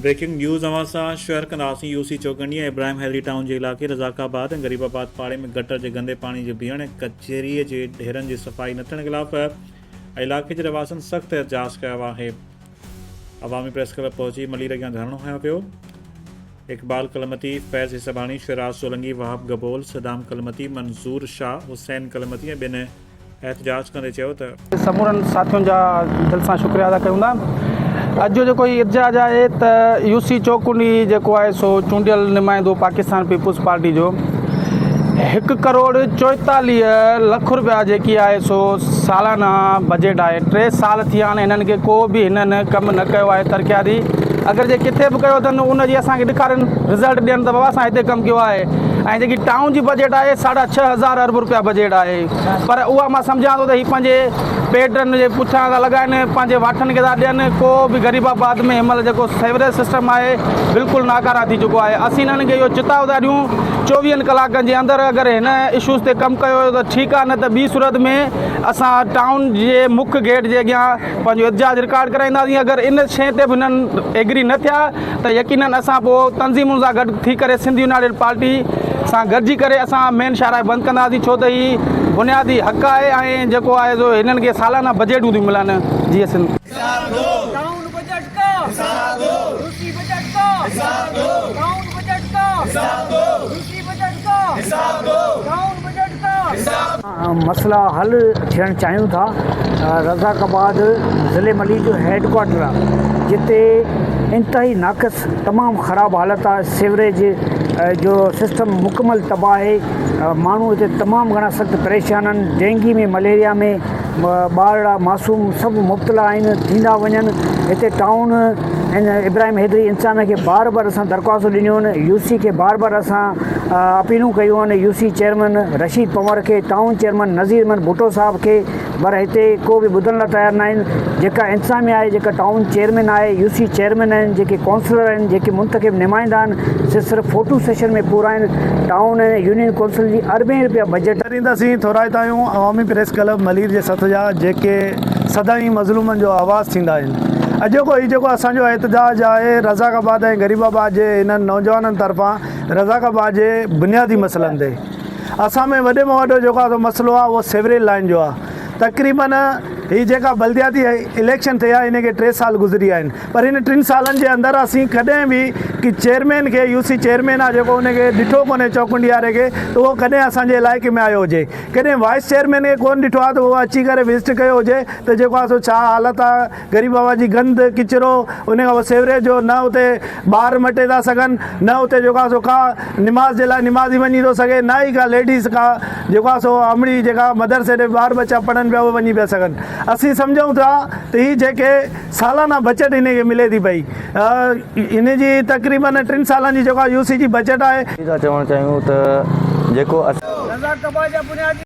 Breaking news اوهان سان share ڪنداسين U C Chaukandi ۽ Ibrahim Hyderi town جي علائقي رزاق آباد ۽ غريب آباد پاڙي ۾ گٽر جي گندي پاڻي جي بيهڻ ۽ ڪچري جي ڍيرن جي صفائي نه ٿيڻ خلاف علائقي جي رهواسين سخت احتجاج ڪيو آهي عوامي پريس ڪلب پهچي ملير اڳيان ڌرڻو هنيو ويو اقبال ڪلمتي فيض حسباڻي شيراز سولنگي وهاب گبول صدام ڪلمتي منظور شاهه حسين ڪلمتي ۽ ٻين احتجاج ڪندي چيو ته. سمورن ساٿين جا دل سان شڪريا ادا ڪيون ٿا اڄ جو جيڪو هي احتجاج آهي ته يو سي چوڪنڊ هي جيڪو آهي سو چونڊيل نمائندو پاڪستان پيپلز پارٽي جو هڪ ڪروڙ چوئيتاليهه لک روپيا جيڪي آهي سو سالانه بجيٽ آهي ٽي سال ٿيا آهن هنن کي ڪو به هنن ڪم نه ڪيو آهي ترقياتي اگر جي ڪٿي به ڪيو اٿن ان جي اسان کي ڏيکارين رزلٽ ڏين ته بابا اسان هتي ڪم ڪيو آهي ۽ جيڪي ٽائون جي بجيٽ آهي ساڍا ڇهه هزار ارب روپيا بجيٽ آهي پر اها مان سمجهان ٿو ته هي پنهنجي پيٽن جي پٺيان ٿا لڳائن، پنهنجي واٺن کي ٿا ڏين، ڪو به غريب آباد ۾ هن مهل جيڪو سيوريج سسٽم آهي بلڪل ناڪاره ٿي چڪو آهي، اسين هنن کي اهو چتاء ٿا ڏيون چوويهن ڪلاڪن جي اندر اگر هن اشوز تي ڪم ڪيو ويو ته ٺيڪ آهي نه ته ٻي صورت ۾ اسان ٽائون جي مک گيٽ جي اڳيان پنهنجو احتجاج رڪارڊ ڪرائينداسين، اگر ان شئي تي به هنن ايگري نه ٿيا. ته يقينن اسان پوء تنظيمن سان گڏ ٿي ڪري سنڌ يونائيٽيڊ پارٽي سان گڏجي ڪري اسان مين شاهراهه بند ڪنداسين ڇو ته هي بنيادي حق آهي ۽ جيڪو آهي سو هنن کي سالانه بجيٽون ٿيون ملن جيئن سنڌ. مسئلا حل ٿيڻ چاهيون ٿا رزاق آباد ضلعي ملي جو هيڊ ڪوارٽر آهي جتي انتهائي ناقص تمام خراب حالت آهي سيوريج جو سسٽم مڪمل تباهه آهي ماڻهو هتي تمام گهڻا سخت پريشان آهن ڊينگي ۾ مليريا ۾ ٻارڙا معصوم سڀ مبتلا آهن ٿيندا وڃن هتي ٽائون ابراهيم حيدري انسان کي بار بار اسان درخواستون ڏنيون آهن يو سي کي بار بار اسان اپيلون ڪيون آهن U C chairman Rashid Panhwar کي، ٽائون چيئرمين نذير احمد ڀٽو صاحب کي پر هتي ڪو به ٻڌڻ لاء تيار ناهن، جيڪا انتظاميا آهي، جيڪا ٽائون چيئرمين آهي، يو سي چيئرمين آهن، جيڪي ڪونسلر آهن، جيڪي منتخب نمائندا آهن سي صرف فوٽو سيشن ۾ پورا آهن، ٽائون ۽ يونين ڪونسل جي اربين رپيا بجيٽ. ڏينداسين، ٿورائتا آهيون عوامي پريس ڪلب ملير جي سٿ جا جيڪي سدائين مظلومن جو آواز ٿيندا آهن اڄوڪو هي جيڪو اسان جو احتجاج آهي رزاق آباد ۽ غريب آباد جي انهن نوجوانن طرفان رزاق آباد جي بنيادي مسئلن تي اسان ۾ وڏي ۾ وڏو جيڪو آ سو مسئلو آ اهو سيوريج لائين جو آ تقريبن هي جيڪا بلدياتي اليڪشن ٿيا هن کي ٽي سال گذري ويا آهن پر هن ٽن سالن جي اندر اسين ڪڏهن به ڪي چيئرمين کي يو سي چيئرمين آ جيڪو ان کي ڏٺو ڪونهي چوڪنڊياري کي ته اهو ڪڏهن اسان جي علائقي ۾ آيو هجي ڪڏهن وائيس چيئرمين کي ڪون ڏٺو آ ته اهو اچي ڪري وزٽ ڪيو هجي ته جيڪو آ سو ڇا حالت آ غريب هوا جي گند، ڪچرو، انهي کان پوء سيوريج جو نه اتي ٻار مٽي ٿا سگهن، نه اتي جيڪو آهي سو ڪا نماز جي لاء نمازي وڃي ٿو سگهي، نه ئي ڪا ليڊيز ڪا جيڪو آهي سو امڙي جيڪا مدرسي ڏي ٻار ٻچا پڙهن پيا اهي وڃي پيا سگهن. اسين سمجهون ٿا ته هي جيڪي سالانه بچت انهي کي ملي ٿي پئي انهي جي تقريباً ٽن سالن جي جيڪو آهي يو سي جي بچت آهي. اسين ٿا چوڻ چاهيون ته جيڪو اسان.